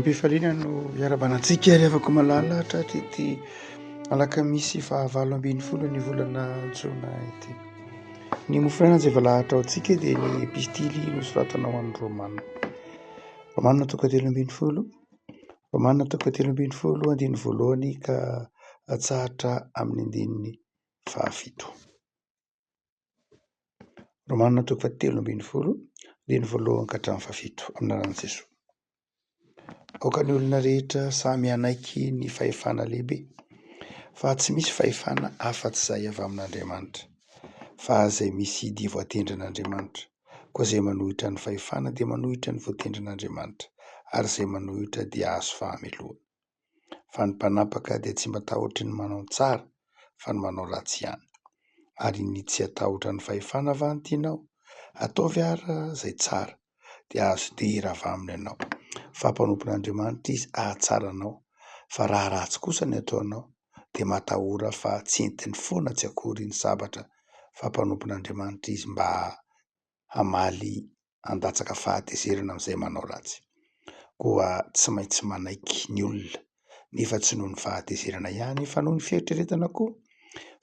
Ampifaliana no iarabana antsika ary afako malala hatratra ity alakamisy fahavalo ambin'ny folo ny volana jona ity. Ny mofrana izay valahatra ao antsika dia ny epistily nosoratanao amin'ny Romana. Romana toko telo ambin'ny folo Fa manana toko fahatelo ambin'ny folo andininy voalohany ka atsahatra amin'ny andininy fahafito. Romana toko fahatelo ambin'ny folo andininy voalohany ka hatramin'ny fahafito amin'ny anaran'i Jesoa. Aoka ny olona rehetra samy hanaiky ny fahefana lehibe fa tsy misy fahefana afa-tsy izay avy amin'Andriamanitra fa izay misy dia voatendrin'Andriamanitra. Koa izay manohitra ny fahefana dia manohitra ny voatendrin'Andriamanitra, ary izay manohitra dia hahazo fahamelohana. Fa ny mpanapaka dia tsy matahotry ny manao ny tsara, fa ny manao ratsy ihany. Ary ny tsy hatahotra ny fahefana va no tianao? Ataovy àry izay tsara, dia hahazo dia hirava aminy ianao, fa mpanompon'Andriamanitra izy hahatsara anao. Fa raha ratsy kosa ny ataonao, dia matahora fa tsy entiny foana tsy akory ny sabatra fa mpanompon'Andriamanitra izy mba hamaly handatsaka fahatezerana amin'izay manao ratsy. Koa tsy maintsy manaiky ny olona, nefa tsy noho ny fahatezerana ihany fa noho ny fieritreretana koa,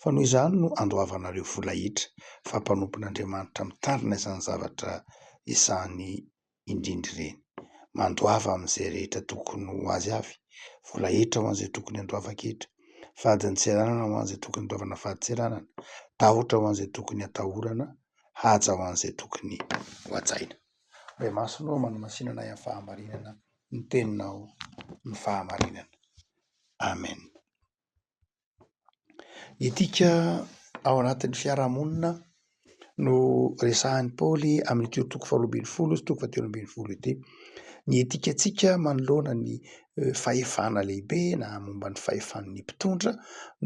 fa noho izany no andoavanareo vola hetra fa mpanompon'Andriamanitra mitarina izany zavatra izany indrindra ireny. Mandoava amin'izay rehetra tokony ho azy avy. Vola hetra ho an'izay tokony handoavako hetra. Fadin-tseranana ho an'izay tokony handoavana fadin-tseranana. Tahotra ho an'izay tokony hatahorana. Haja ho an'izay tokony ho hajaina. Ray Masina ô, manamasìnana ahy amin'ny fahamarinana ny Teninao, ny fahamarinana. Amen. Etika ao anatin'ny fiarahamonina no resahin'i Paoly amin'ity toko faharoa ambin'ny folo sy toko fahatelo ambin'ny folo ity. Ny etikantsika manoloana ny fahefana lehibe na momba ny fahefan'ny mpitondra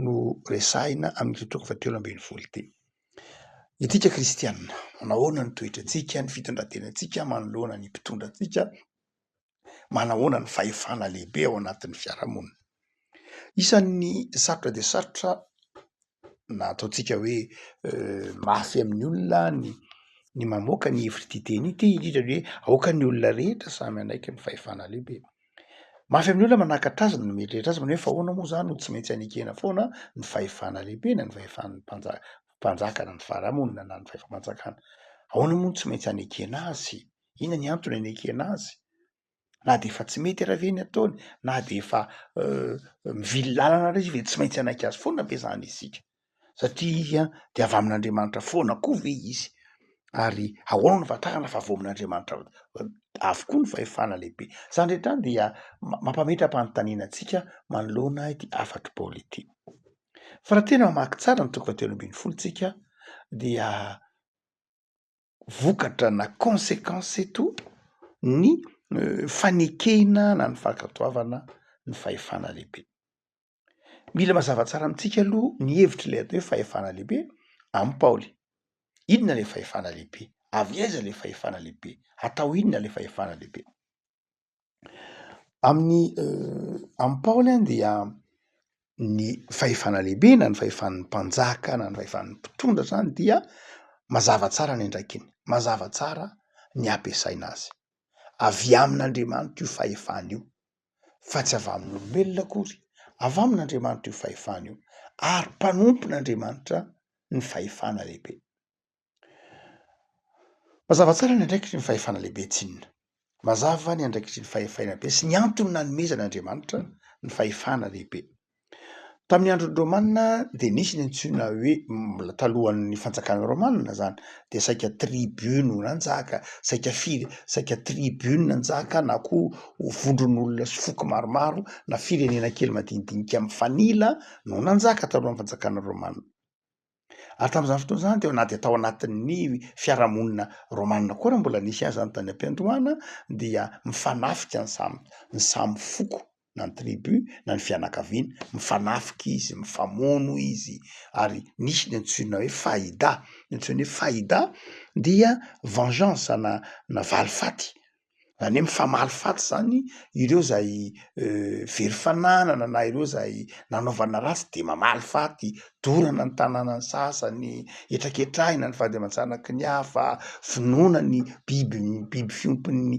no resahina amin'ity toko fahatelo ambin'ny folo ity. Isika kristiana, manao ahoana ny toetrantsika, ny fitondrantenantsika manoloana ny mpitondra antsika? manahoana ny fahefana lehibe ao anatin'ny fiarahamonina. Isan'ny sarotra dia sarotra na ataontsika hoe mafy amin'ny olona ny ny mamoaka ny hevitr'ity teny ity indrindra ny hoe aoka ny olona rehetra samy hanaiky ny fahefana lehibe. Mafy amin'ny olona manakatra azy ny mieritreritra azy manao hoe fa ahoana moa izany no tsy maintsy anekena foana ny fahefana lehibe na ny fahefan'ny mpanjaka mpanjaka na ny faharahamonina na ny fahefam-panjakana. Ahoana moa no tsy maintsy anekena azy? Inona ny antony anekena azy? Na dia efa tsy mety ary ve ny ataony? Na dia efa mivily lalana ary izy ve tsy maintsy hanaiky azy foana ve izany isika? Satria dia avy amin'Andriamanitra foana koa ve izy? Ary ahoana no ahafantarana fa avy ao amin'Andriamanitra avokoa ny fahefana lehibe? Izany rehetra izany dia mampametra-panontaniana antsika manoloana ity hafatr'i Paoly ity. Fa raha tena mamaky tsara ny toko fahatelo ambin'ny folo isika dia vokatra na consequence eto ny fanekena na ny fankatoavana ny fahefana lehibe. Mila mazava tsara amintsika aloha ny hevitry ilay atao hoe fahefana lehibe am Paoly. Inona ilay fahefana lehibe? Avy aiza ilay fahefana lehibe? Atao inona ilay fahefana lehibe? Amin'ny amin'i Paoly dia ny fahefana lehibe na ny fahefan'ny mpanjaka na ny fahefan'ny mpitondra zany dia mazava tsara ny andraikiny, mazava tsara ny ampiasaina azy. Avy amin'Andriamanitra io fahefana io fa tsy avy amin'olombelona akory, avy amin'Andriamanitra io fahefana io ary mpanompon'Andriamanitra ny fahefana lehibe. Mazava tsara ny andraikitry ny fahefana lehibe tsy inona. Mazava ny andraikitry ny fahefaina be sy ny antony nanomezan' Andriamanitra ny fahefana lehibe. Tamin'ny andron'ny Romana dia nisy ny antsoina hoe, mbola talohan'ny fanjakan'ny Romana izany, dia saika tribu no nanjaka, saika fire, saika tribu no nanjaka na koa vondron'olona sy foko maromaro na firenena kely madinidinika mifanila no nanjaka talohan'ny fanjakan'ny Romana. Ary tamin'izany fotoana izany dia na dia tao anatin'ny fiarahamonina romanina koa raha mbola nisy aza ny tany am-piandohana dia mifanafika ny samy ny samy foko na ny tribu na ny fianakaviana, mifanafika izy, mifamono izy ary nisy ny antsoina hoe fahida, ny antsoina hoe fahida dia vengeance na na valifaty Zany hoe mifamaly faty zany ireo zay very fananana na ireo zay nanaovana ratsy de mamaly faty, dorana ny tananan'ny sasany, hetraketrahina ny vady aman-janaky ny hafa, vonoina ny biby biby fiompin'ny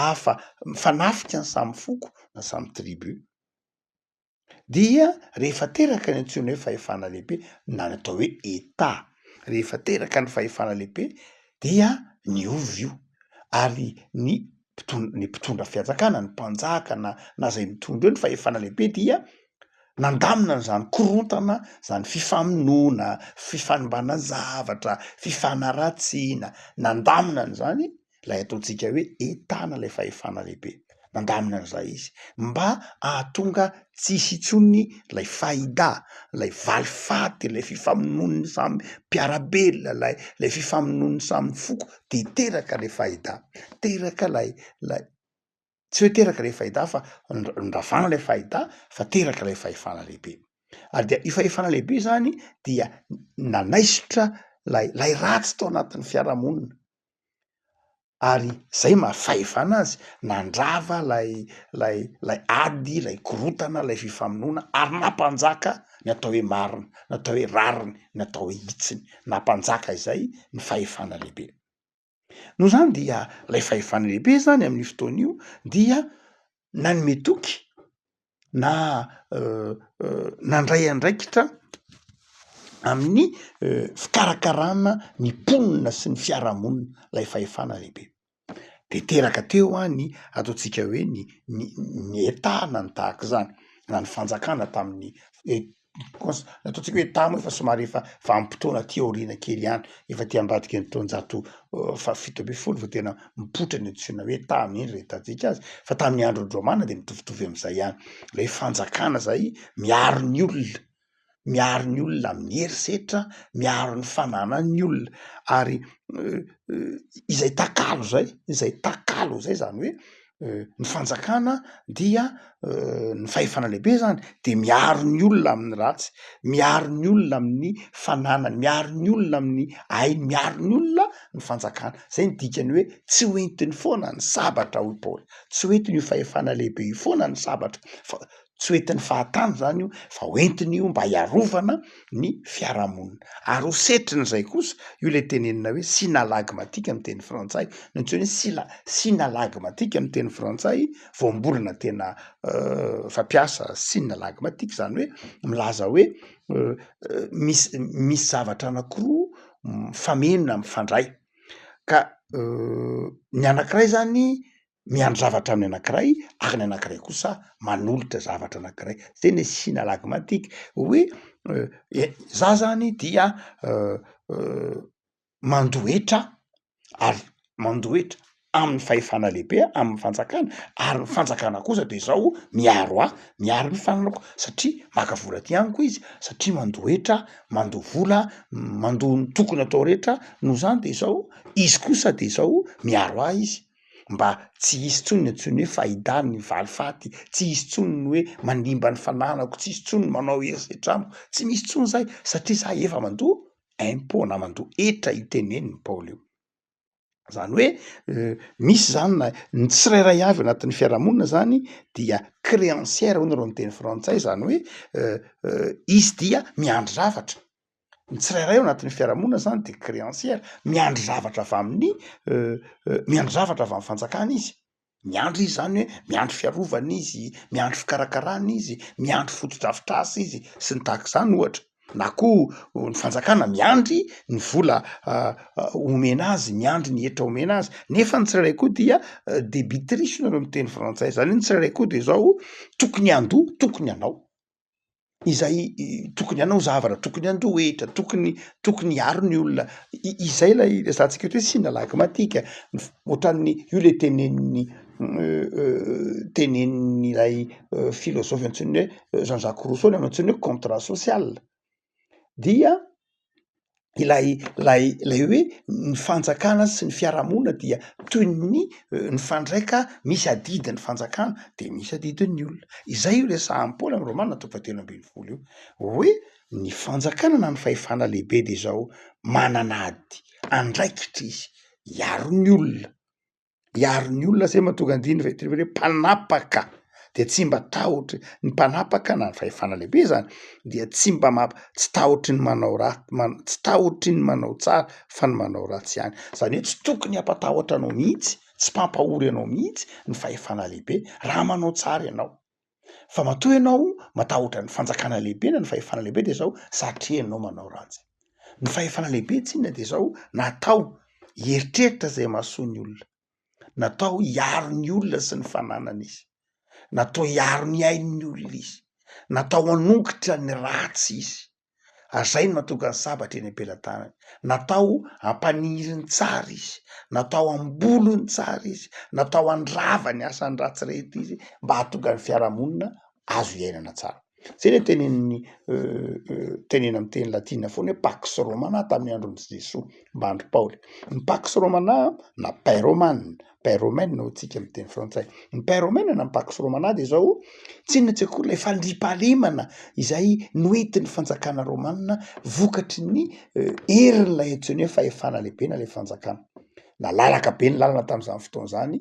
hafa, mifanafika ny samy foko na samy tribu. dia rehefa teraka ny antsoina hoe fahefana lehibe na ny atao hoe Etat, rehefa teraka ny fahefana lehibe dia niova io ary ny mpitondra ny mpitondra fianjakana ny mpanjaka na na zay mitondra eo ny fahefana lehibe dia nandamina an'izany korontana zany fifamonoana, fifanimbanana zavatra, fifanaratsiana, nandamina an'izany ilay ataontsika hoe etana ilay fahefana lehibe nandamina an'izay izy mba ahatonga tsisy intsony ilay fahida ilay valy faty ilay fifamonoan'ny samy mpiarabelona ilay ilay fifamonoan'ny samy foko dia teraka ilay fahida teraka ilay ilay Tsy hoe teraka ilay fahita fa nravana ilay fahita fa teraka ilay fahefana lehibe. Ary dia io fahefana lehibe izany dia nanaisotra lay lay ratsy tao anatin'ny fiarahamonina ary zay maha fahefana azy nandrava lay lay lay ady lay korotana lay fifamonoana ary nampanjaka ny atao hoe marina ny atao hoe rariny ny atao hoe hitsiny nampanjaka izay ny fahefana lehibe. Noho izany dia ilay fahefana lehibe izany amin'io fotoana io dia nanome toky na nandray andraikitra amin'ny fikarakarana ny mponina sy ny fiarahamonina ilay fahefana lehibe, de teraka teo an ny ataontsika hoe ny ny ny etana ny tahaka izany na ny fanjakana tamin'ny cons- ataontsika hoe tamo efa somary efa vanim-potoana aty aoriana kely ihany efa aty ambadika ny taonjato fahafito ambin'ny folo vao tena mipoitra ny antsoina hoe tamo iny re hitantsika azy fa tamin'ny andron'ny romana dia mitovitovy am'izay ihany ilay fanjakana zay miaro ny olona miaro ny olona amin'ny herisetra miaro ny fananan'ny olona ary izay takalo zay izay takalo zay zany hoe ny fanjakana dia ny fahefana lehibe zany de miaro ny olona amin'ny ratsy miaro ny olona amin'ny fananany miaro ny olona amin'ny ainy miaro ny olona ny fanjakana zay ny dikany hoe tsy hoentiny foana ny sabatra hoy paoly tsy hoentiny io fahefana lehibe io foana ny sabatra fa tsy ho entin'ny fahatany zany io fa ho entiny io mba hiarovana ny fiarahamonina ary ho setriny izay kosa io le tenenina hoe sinalagmatika amin'ny teny frantsay no antsoina hoe sila- sinalagmatika amin'ny teny frantsay voambolana tena fampiasa sinalagmatika zany hoe milaza hoe misy misy zavatra anakiroa mifameno na mifandray ka ny anankiray zany miandry zavatra amin'ny anankiray ary ny anankiray kosa manolotra zavatra anankiray zay ny signe alagmantika hoe za zany dia mandohetra ary mandohetra amin'ny fahefana lehibe amin'ny fanjakana ary ny fanjakana kosa de zao miaro ahy miaro ny fananako satria maka vola aty amiko izy satria mandohetra mandoa vola mandoa ny tokony atao rehetra noho zany de zao izy kosa de zao miaro ahy izy mba tsy hisy intsony ny antsoin'ny hoe Fahida ny valifaty, tsy hisy intsony ny hoe manimba ny fananako, tsy hisy intsony ny manao herisetra amiko, tsy misy intsony izay satria za efa mandoa impôt na mandoa hetra iteneniny Paoly io. Izany hoe misy izany na ny tsirairay avy ao anatin'ny fiarahamonina izany dia créancière hono raha ny teny frantsay izany hoe izy dia miandry zavatra. ny tsirairay ao anatin'ny fiarahamonina zany dia créancière, miandry zavatra avy amin'ny miandry zavatra avy amin'ny fanjakana izy, miandry izy zany hoe miandry fiarovana izy, miandry fikarakarana izy, miandry fotodrafitrasa izy sy ny tahaka izany ohatra, na koa ny fanjakana miandry ny vola omena azy, miandry ny hetra omena azy, nefa ny tsirairay koa dia débitrice hoy ireo miteny frantsay, zany hoe ny tsirairay koa dia izao tokony handoa, tokony hanao. izay tokony hanao zavatra, tokony handoa hetra, tokony tokony hiaro ny olona, izay ilay resahantsika eto hoe sina lagy matika, ohatran'ny io ilay tenenin'ny tenenin'ilay filôzôfy antsoin'ny hoe Jean Jacques Rousseau ilay antsoin'ny hoe contrat social. dia ilay ilay ilay hoe ny fanjakana sy ny fiarahamonina dia toy ny mifandraika misy adidy ny fanjakana de misy adidin'ny olona, izay io resahan'i Paoly amin'ny romana toko fahatelo ambin'ny folo io hoe ny fanjakana na ny fahefana lehibe de zao manana ady andraikitra izy hiaro ny olona. hiaro ny olona zay mahatonga ny dihin'ny veterinera hoe mpanapaka dia tsy mba tahotry ny mpanapaka na ny fahefana lehibe zany dia tsy mba mamp- tsy tahotry ny manao raha man- tsy tahotry ny manao tsara fa ny manao ratsy ihany zany hoe tsy tokony hampatahotra anao mihitsy tsy mpampahory anao mihitsy ny fahefana lehibe raha manao tsara ianao Fa matoa ianao matahotra ny fanjakana lehibe na ny fahefana lehibe dia zao, satrenao manao ratsy. Ny fahefana lehibe tsy inona dia zao, natao hieritreritra izay mahasoa ny olona, natao hiaro ny olona sy ny fananany izy, natao hiaro ny ain'ny olona izy, natao hanongotra ny ratsy izy. Azay no natokany sabatra eny am-pelatanany. Natao hampaniry ny tsara izy, natao hamboly ny tsara izy, natao handrava ny asany ratsy rehetra izy mba hahatonga ny fiarahamonina azo iainana tsara. Izay ilay tenenin'ny tenena amin'ny teny latina foana hoe Pax Romana tamin'ny andron'i Jesoa mba andry Paoly. Ny Pax Romana na Paix Romana pyromène hoy tsika amin'ny teny frantsay. Ny pyromène na ny pax romana dia izao, tsy inona tsy inona akory ilay fandriampahalemana izay noentin'ny fanjakana romana vokatry ny herin'ilay antsoina hoe fahefana lehibe na ilay fanjakana. Nalalaka be ny lalana tamin'izany fotoana izany,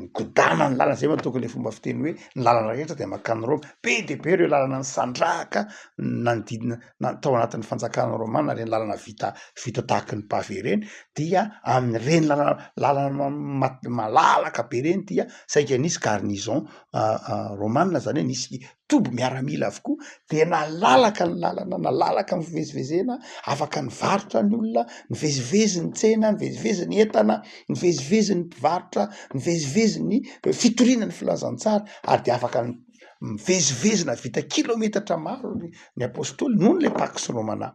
nigodana ny lalana, izay moa tokony ilay fomba fiteny hoe ny lalana rehetra dia mankany Roma. Be dia be ireo lalana nisandrahaka ny nanodidina na tao anatin'ny fanjakana romana ireny lalana vita vita tahaka ny pavé ireny dia amin'ireny lalana lalana ma- malalaka be ireny dia saika nisy garnison romana zany hoe nisy toby miaramila avokoa dia nalalaka ny lalana nalalaka ny fivezivezena afaka nivarotra ny olona nivezivezy ny tsena nivezivezy ny entana nivezivezy ny mpivarotra nivezivezy ny fitoriana ny filazantsara ary dia afaka ny mivezivezy nahavita kilometatra maro ary ny apostoly noho ilay pax romana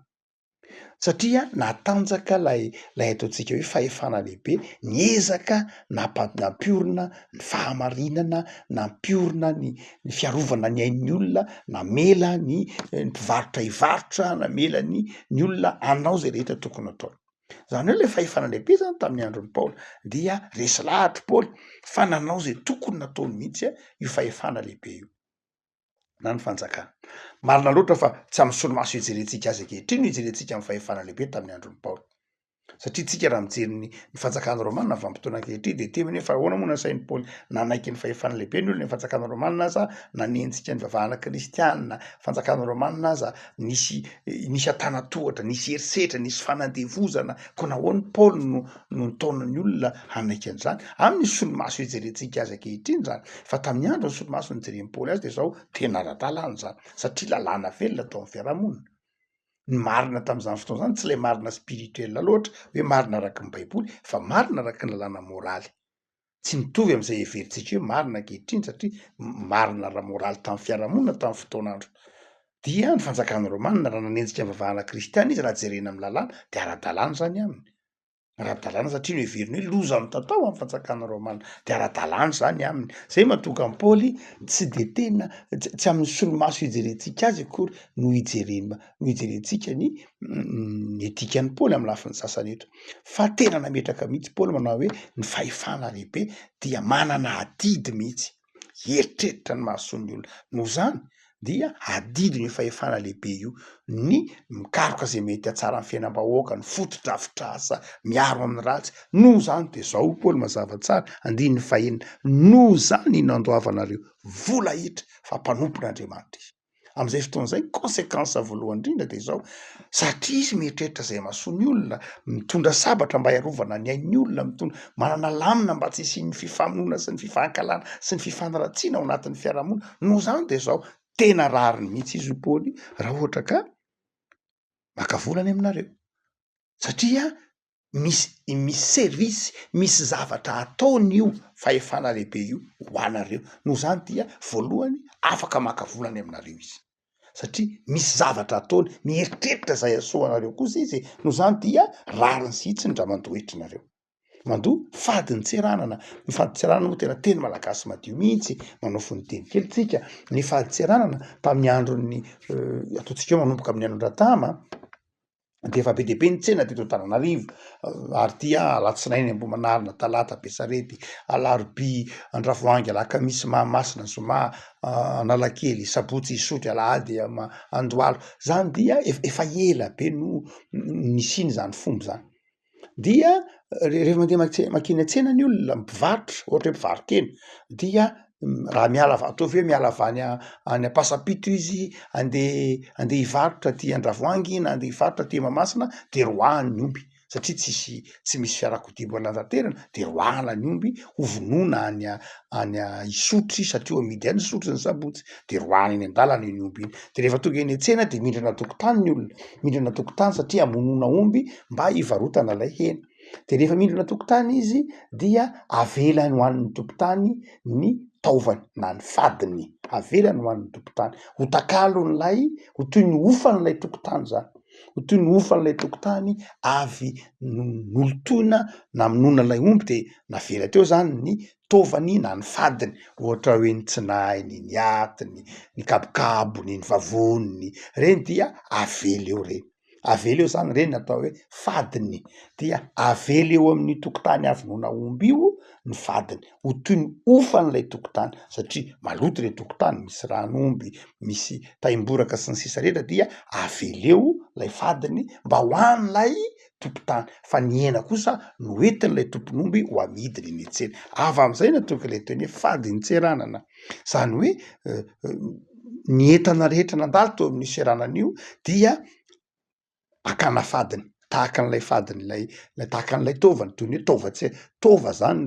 satria natanjaka ilay ilay ataontsika hoe fahefana lehibe niezaka nampa- nampiorina ny fahamarinana nampiorina ny ny fiarovana ny ain'ny olona namela ny ny mpivarotra hivarotra namela ny ny olona anao zay rehetra tokony ataony Izany hoe ilay fahefana andrem-pihezana tamin'ny andron'i Paoly dia resy lahatra i Paoly fa nanao izay tokony nataony mihitsy io fahefana lehibe io na ny fanjakana. Marina loatra fa tsy amin'ny solomaso ijerentsika azy ankehitriny no ijerentsika amin'ny fahefana lehibe tamin'ny andron'i Paoly. Satria tsika raha mijery ny fanjakana romanina vanim-potoana ankehitriny dia temy hoe fa ahoana moa nasain'i Paoly nanaiky ny fahefana lehibe ny olona ny fanjakana romanina aza nanenjika ny vavahana kristianina fanjakana romanina aza nisy nisy an-tanan-tohatra, nisy herisetra, nisy fanandevozana, koa nahoana i Paoly no no nitaona ny olona hanaiky an'izany? Aminy ny solomaso ijerentsika azy ankehitriny izany, fa tamin'ny andron'ny solomaso nijeren'i Paoly azy dia izao tena ara-dalàna izany, satria lalàna velona tao amin'ny fiarahamonina. Ny marina tamin'izany fotoana izany tsy ilay marina spirituel loatra, hoe marina araka ny baiboly, fa marina araka ny lalàna moraly. tsy mitovy amin'izay heverintsika hoe marina ankehitriny satria marina ara-moraly tamin'ny fiarahamonina tamin'ny fotoana andro dia ny fanjakan'ny romana raha nanenjika ny vavahana kristiana izy raha jerena amin'ny lalàna dia ara-dalàna izany aminy ara-dalàna satria no heveriny hoe loza mitatao amin'ny fanjakan'ny romana dia ara-dalàna izany aminy izay mahatonga an'i paoly tsy dia tena tsy amin'ny solomaso hijerentsika azy akory no hijerena no hijerentsika ny ny dikan'i Paoly amin'ny lafiny sasany eto. Fa tena nametraka mihitsy Paoly manao hoe ny fahefana lehibe dia manana adidy mihitsy. Hieritreritra ny mahasoan'ny olona. Noho izany dia adidiny io fahefana lehibe io ny mikaroka izay mety hahatsara ny fiainam-bahoaka, ny fotodrafitrasa miaro amin'ny ratsy. Noho izany dia izao hoy Paoly mazava tsara, andininy fahenina, noho izany iny nandoavanareo vola iny fa mpanompon'Andriamanitra izy. Amin'izay fotoana izay, ny consequence voalohany indrindra dia izao, satria izy mieritreritra izay mahasoa ny olona, mitondra sabatra mba hiarovana ny ain'ny olona, mitondra, manana lamina mba tsy hisian'ny fifamonoana sy ny fifankahalana sy ny fifanaratsiana ao anatin'ny fiarahamonina, noho izany dia izao, tena rariny mihitsy izy io Paoly raha ohatra ka maka vola any aminareo satria misy misy service misy zavatra ataony io fahefana lehibe io ho anareo noho izany dia voalohany afaka maka vola any aminareo izy satria misy zavatra ataony mieritreritra izay hahasoa anareo kosa izy e noho izany dia rariny zihitsiny ndra mandoa hetra nareo mandoa fadiny tsy ranana ny fady tsy ranana moa tena teny malagasy madio mihitsy manao fony teny kely tsika ny fady tsy ranana tamin'ny andron'ny ataontsika eo manomboka amin'ny andron-dRatama de efa be dia be ny tsena teto Antananarivo ary dia alatsinainy ambohimanarina talata besarety alarobia andravoahangy alakamisy mahamasina zoma analakely sabotsy isotry alahady ama andoalo zany dia efa ela be no nisiny zany fomba zany dia rehefa mandeha mats- mankeny an-tsena ny olona mpivarotra ohatra hoe mpivaro-kena dia raha miala avy ataovy hoe miala avy any a- any ampasapito izy andeha andeha hivarotra aty andravoahangy na andeha hivarotra aty mahamasina de roahany ny omby satria tsisy tsy misy fiarakodia mbola nanatanterana de roahana ny omby hovonoina any a- any Isotry satria amidy any Isotry ny sabotsy de roahany eny an-dalana iny omby iny de rehefa tonga eny an-tsena de mindrana an-tokotany ny olona mindrana an-tokotany satria hamonoana omby mba hivarotana ilay hena de rehefa mindrana an-tokotany izy dia avelany ho an'ny tompon-tany ny taovany na ny fadiny avelany ho an'ny tompon-tany ho takalon'ilay ho toy ny hofan'ilay tompon-tany zany Ho toy ny hofan'ilay tokontany avy nolotoina namonoana ilay omby dia navela teo izany ny taovany na ny fadiny, ohatra hoe ny tsinahiny, ny atiny, ny kabokabony, ny vavoniny, ireny dia avela eo ireny, avela eo izany ireny atao hoe fadiny, dia avela eo amin'ny tokontany avy noana omby io ny fadiny. ho toy ny hofan'ilay tokotany satria maloto ilay tokotany misy rano omby misy taimboraka sy ny sisa rehetra dia aveleo lay fadiny mba ho an'ilay tokotany fa ny hena kosa no entin'ilay tompon'omby ho amidiny eny an-tsena avy am'izay no tonga ilay teny hoe fadin-tseranana zany hoe ny entana rehetra nandalo teo amin'io seranana io dia akana fadiny tahaka an'ilay fadin'ilay lay tahaka an'ilay taovany toy ny hoe taovan-tse- taova zany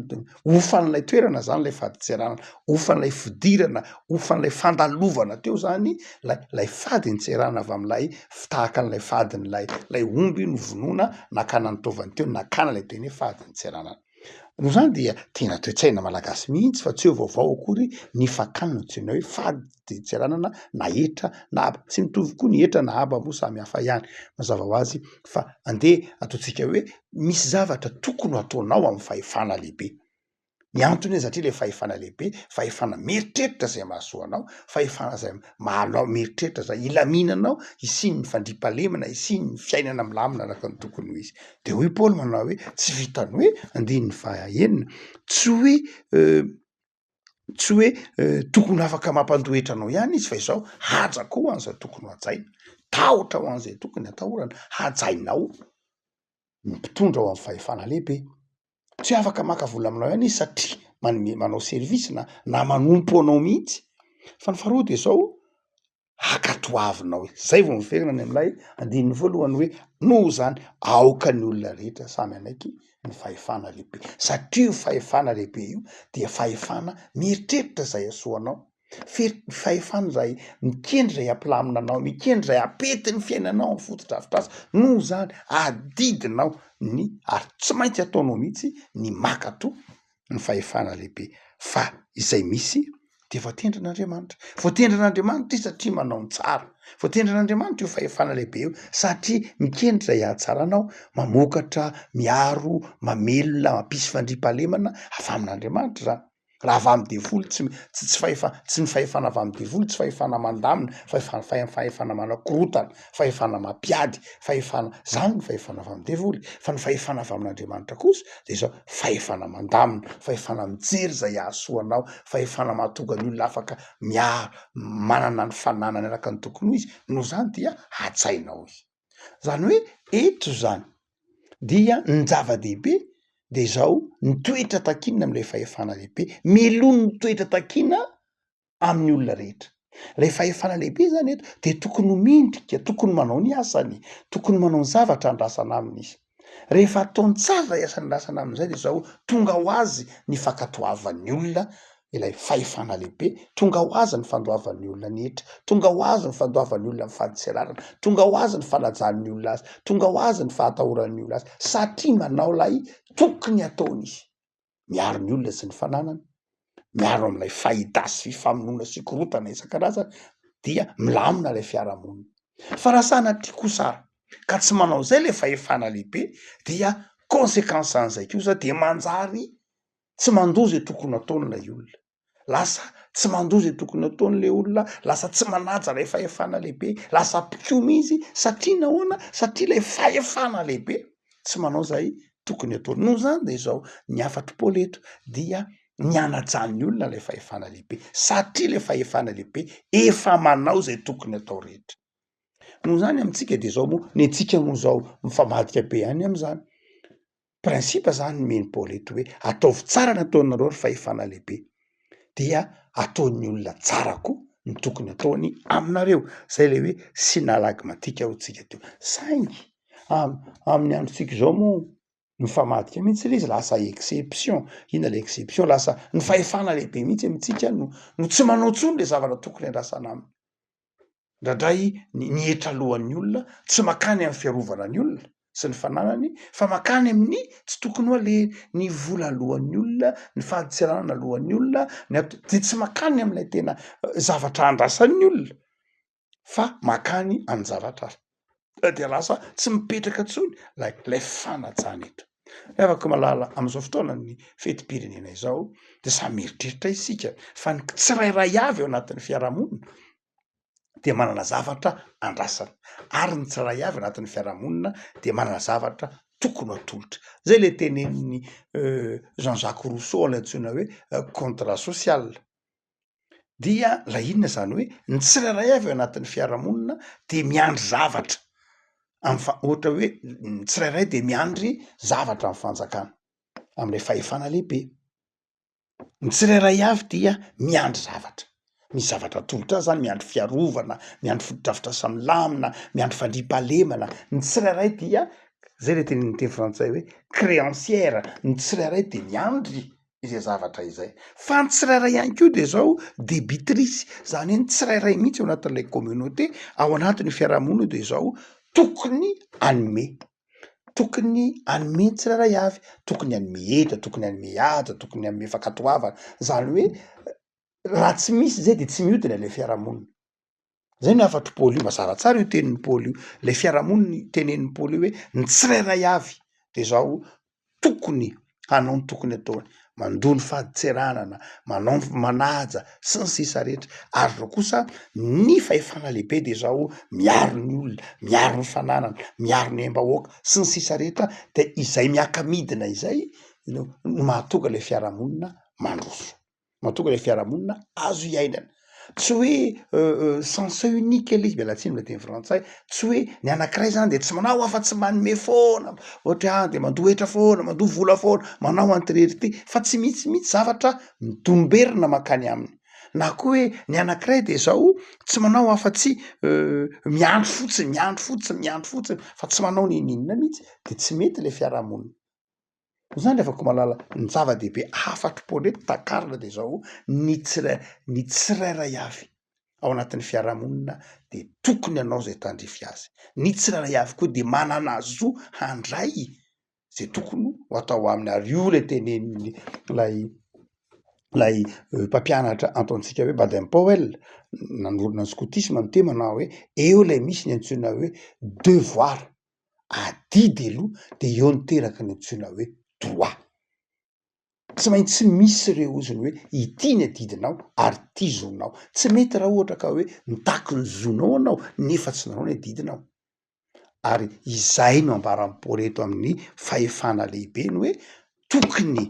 hofan'ilay toerana zany lay fadin-tseranana hofan'ilay fidirana hofan'ilay fandalovana teo zany lay lay fadin-tseranana avy am'ilay fi tahaka an'ilay fadin'ilay lay omby novonoina nakana ny taovany teo nakana lay teny hoe fadin-tseranana Noho izany dia tena toe-tsaina malagasy mihitsy fa tsy eo vaovao akory ny fakana no antsoina hoe fady dia tsy ananana na hetra na haba. Tsy mitovy koa ny hetra na haba moa samy hafa ihany. Mazava ho azy fa andeha ataontsika hoe misy zavatra tokony ho ataonao amin'ny fahefana lehibe. Ny antony satria ilay fahefana lehibe, fahefana mieritreritra izay mahasoa anao, fahefana izay mahalao mieritreritra zay, hilaminanao, hisian'ny fandriampahalemana, hisian'ny fiainana milamina araka ny tokony ho izy. De hoy Paoly manao hoe tsy vitan'ny hoe, andininy fahaenina, tsy hoe tsy hoe tokony afaka mampandoa hetra anao ihany izy fa izao, haja koa ho an'izay tokony ho hajaina, tahotra ho an'izay tokony hatahorana, hajainao ny mpitondra ao amin'ny fahefana lehibe. tsy hoe afaka maka vola aminao ihany izy satria manome manao service na na manompo anao mihitsy fa ny faharoa de zao hankatoavinao e zay vao miverina any am'lay andininy voalohany hoe noho zany aoka ny olona rehetra samy hanaiky ny fahefana lehibe satria io fahefana lehibe io dia fahefana mieritreritra zay hasoa anao Fery ny fahefana izay mikendry izay hampilamina anao, mikendry izay hampety ny fiainanao amin'ny fotodrafitrasa. Noho izany, adidinao ny ary tsy maintsy ataonao mihitsy ny maka to ny fahefana lehibe fa izay misy dia voatendrin' Andriamanitra. Voatendrin' Andriamanitra izy satria manao ny tsara. Voatendrin' Andriamanitra io fahefana lehibe io satria mikendry izay hahatsara anao, mamokatra, miaro, mamelona, mampisy fandriampahalemana avy amin' Andriamanitra izany. raha avy amin'ny devoly tsy tsy tsy fahefa- tsy ny fahefana avy amin'ny devoly tsy fahefana mandamina fahefa- fahe- fahefana manakorotana fahefana mampiady fahefana zany ny fahefana avy amin'ny devoly fa ny fahefana avy amin'Andriamanitra kosa de zao fahefana mandamina fahefana mijery zay hahasoa anao fahefana mahatonga ny olona afaka miaro manana ny fananany araka ny tokony ho izy noho zany dia hajainao izy Zany hoe eto zany dia ny zava-dehibe de izao ny toetra takiana am'ilay fahefana lehibe, meloha ny toetra takiana amin'ny olona rehetra, lay fahefana lehibe zany eto de tokony ho mendrika, tokony manao ny asany, tokony manao ny zavatra andrasana aminy izy. Rehefa ataon-tsary ilay asan'ny lasana amin'izay dia izao, tonga ho azy ny fankatoavan'ny olona ilay fahefana lehibe, tonga ho azy ny fandoavan'ny olona ny hetra, tonga ho azy ny fandoavan'ny olona ny fadintserarana, tonga ho azy ny fanajan'ny olona azy, tonga ho azy ny fahatahoran'ny olona azy, satria manao ilay tokony hataony izy. miaro ny olona sy ny fananany, miaro amin'ilay fahita sy famonoana sy korotana isan-karazany dia milamina ilay fiarahamonina. Fa raha sanatria kosa ka tsy manao izay ilay fahefana lehibe dia consequence an'izay kosa dia manjary tsy mandoa izay tokony hataony ilay olona. lasa tsy mandoa izay tokony ataony le olona lasa tsy manaja ilay fahefana lehibe lasa mpikomy izy satria nahoana satria ilay fahefana lehibe tsy manao izay tokony ataony noho izany de izao ny hafatro paoly eto dia ny anajan'ny olona ilay fahefana lehibe satria le fahefana lehibe efa manao izay tokony atao rehetra noho izany amintsika de izao moa ny antsika moa izao mifamadika be ihany am'izany principe zany nomeny Paoly eto hoe ataovy tsara ny ataonareo ry fahefana lehibe dia ataon'ny olona tsara koa ny tokony ataony aminareo, zay le hoe sinalagmatika ho tsika teo, saingy am- amin'ny androntsika zao moa mifamadika mihitsy le izy lasa exception, inona le exception? Lasa ny fahefana lehibe mihitsy amintsika no no tsy manao tsony le zavatra tokony andrasana aminy. indraindray ny ny hetra alohan'ny olona, tsy mankany amin'ny fiarovana ny olona sy ny fananany fa mankany amin'ny tsy tokony ho aleha, ny vola alohan'ny olona, ny fahaditsiranana alohan'ny olona, ny ato, dia tsy mankany amin'ilay tena zavatra andrasan'ny olona fa mankany amin'ny zavatra hafa. dia lasa tsy mipetraka intsony ilay ilay fanajana eto. Ry havako malala amin'izao fotoanan'ny fetim-pirenena izao dia samy mieritreritra isika fa ny tsirairay avy ao anatin'ny fiarahamonina dia manana zavatra andrasana ary ny tsirairay avy anatin'ny fiarahamonina dia manana zavatra tokony atolotra zay le tenenin'ny Jean Jacques Rousseau ilay antsoina hoe contrat social. Dia ilay inona izany hoe ny tsirairay avy ao anatin'ny fiarahamonina dia miandry zavatra amin'ny fa- ohatra hoe ny tsirairay dia miandry zavatra amin'ny fanjakana, amin'ilay fahefana lehibe. Ny tsirairay avy dia miandry zavatra, misy zavatra atolotra azy zany, miandry fiarovana, miandry fotodrafitrasa milamina, miandry fandriampahalemana, ny tsirairay dia, zay ilay teny amin'ny teny frantsay hoe créancière, ny tsirairay dia miandry izay zavatra izay. Fa ny tsirairay ihany koa dia izao debitrice, izany hoe ny tsirairay mihitsy ao anatin'ilay communauté, ao anatin'io fiarahamonina io dia izao tokony hanome. Tokony hanome ny tsirairay avy, tokony hanome hery, tokony hanome haja, tokony hanome fankatoavana. Izany hoe raha tsy misy izay dia tsy mihodina ilay fiarahamonina. Zay ny hafatr'i Paoly io, mazava tsara io tenin'i Paoly io, lay fiarahamonina itenenin'i Paoly io hoe ny tsirairay avy de zao tokony hanao ny tokony ataony, mandoa ny fadintseranana, manao ny manaja sy ny sisa rehetra ary zao kosa ny fahefana lehibe de zao miaro ny olona, miaro ny fananana, miaro ny aim-bahoaka sy ny sisa rehetra de izay miaka-midina izay no mahatonga le fiarahamonina mandroso. mahatonga ilay fiarahamonina azo iainana. Tsy hoe sens unique ilay izy, miala tsiny ilay teny frantsay, tsy hoe ny anankiray zany de tsy manao afa-tsy manome foana, ohatra hoe ahy de mandoa hetra foana, mandoa vola foana, manao an'ity rehetra ity, fa tsy misy mihitsy zavatra midomberina mankany aminy. Na koa hoe ny anankiray de zao tsy manao afa-tsy miandry fotsiny, miandry fotsiny, miandry fotsiny fa tsy manao nino inona mihitsy de tsy mety ilay fiarahamonina. Zany le Vakomalala ny zava-dehibe afatry pôlety takarina de zao ny tsirai ny tsirairay avy ao anatin'ny fiarahamonina de tokony anao zay tandrify azy ny tsirairay avy koa de manana zo handray ze tokony ho atao aminy ary io le tenenin'ny lay lay mpampianatra antontsika hoe Baden Powell nanorina ny skotisma ny temany na hoe eo lay misy ny antsoina hoe devoir adidy aloha de eo no teraka ny antsoina hoe droit, tsy maintsy misy ireo hozony hoe ity ny adidinao ary ity zonao, tsy mety raha ohatra ka hoe mitaky ny zonao anao nefa tsy nanao ny adidinao, ary izay no ambaran'i Paoly eto amin'ny fahefana lehibe ny hoe tokony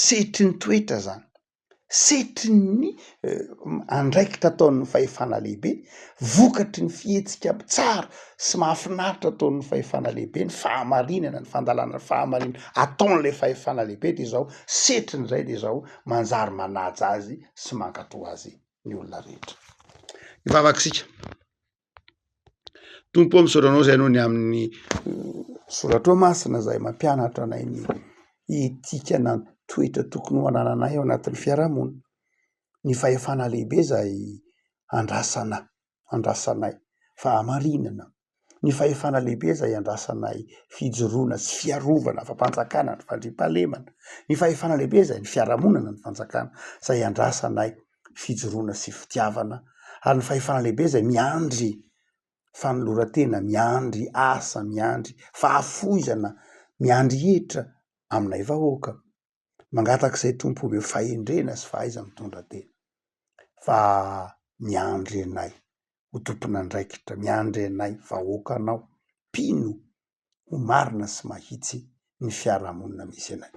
sehetry ny toetra zany setrin' ny andraikitra ataon' ny fahefana lehibe, vokatry ny fihetsika tsara sy mahafinaritra ataon' ny fahefana lehibe, ny fahamarinana, ny fandalana ny fahamarinana ataon' ilay fahefana lehibe dia izao, setrin' izay dia izao, manjary manaja azy sy mankatò azy ny olona rehetra. Ivavaka isika. Tompo ô misaotra anao zay no ny amin'ny soratrao masina zay mampianatra anay ny etika na ny toetra tokony ho anananay ao anatin'ny fiarahamonina ny fahefana lehibe zay andrasana andrasanay fahamarinana ny fahefana lehibe zay andrasanay fijoroana sy fiarovana fampanjakana ny fandriampahalemana ny fahefana lehibe zay ny fiarahamonina ny fanjakana zay andrasanay fijoroana sy fitiavana ary ny fahefana lehibe izay miandry fanoloran-tena, miandry asa, miandry fahafoizana, miandry hetra aminay vahoaka. Mangataka izay Tompo omeo fahendrena sy fahaiza-mitondra tena fa miandry anay ho tompon'andraikitra, miandry anay vahoakanao mpino ho marina sy mahitsy ny fiarahamonina misy anay.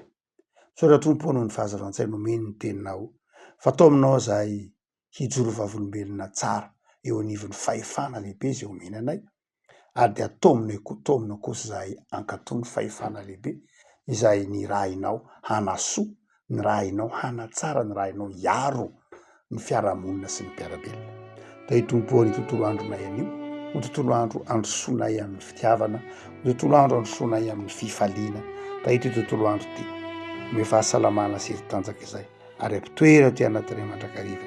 Soratr'Ompo noho ny fahazazan-tsaina omeny ny teninao, fa tao aminao izahay hijoro vavolombelona tsara eo anivon'ny fahefana lehibe izay omeny anay, ary dia atao aminay koa, atao aminao kosa izahay hankatò ny fahefana lehibe izay nirahinao hanasoa ny raha hainao hanatsara ny raha hainao hiaro ny fiarahamonina sy ny mpiara-belona. Dia hitomboa ny tontolo andronay anio ho tontolo andro androsoanay amin'ny fitiavana, ho tontolo andro androsoanay amin'ny fifaliana. Dia ity tontolo andro ity, ny fahasalamana sy ety tanjaka izay ary ampitoera aty anatinay mandrakariva.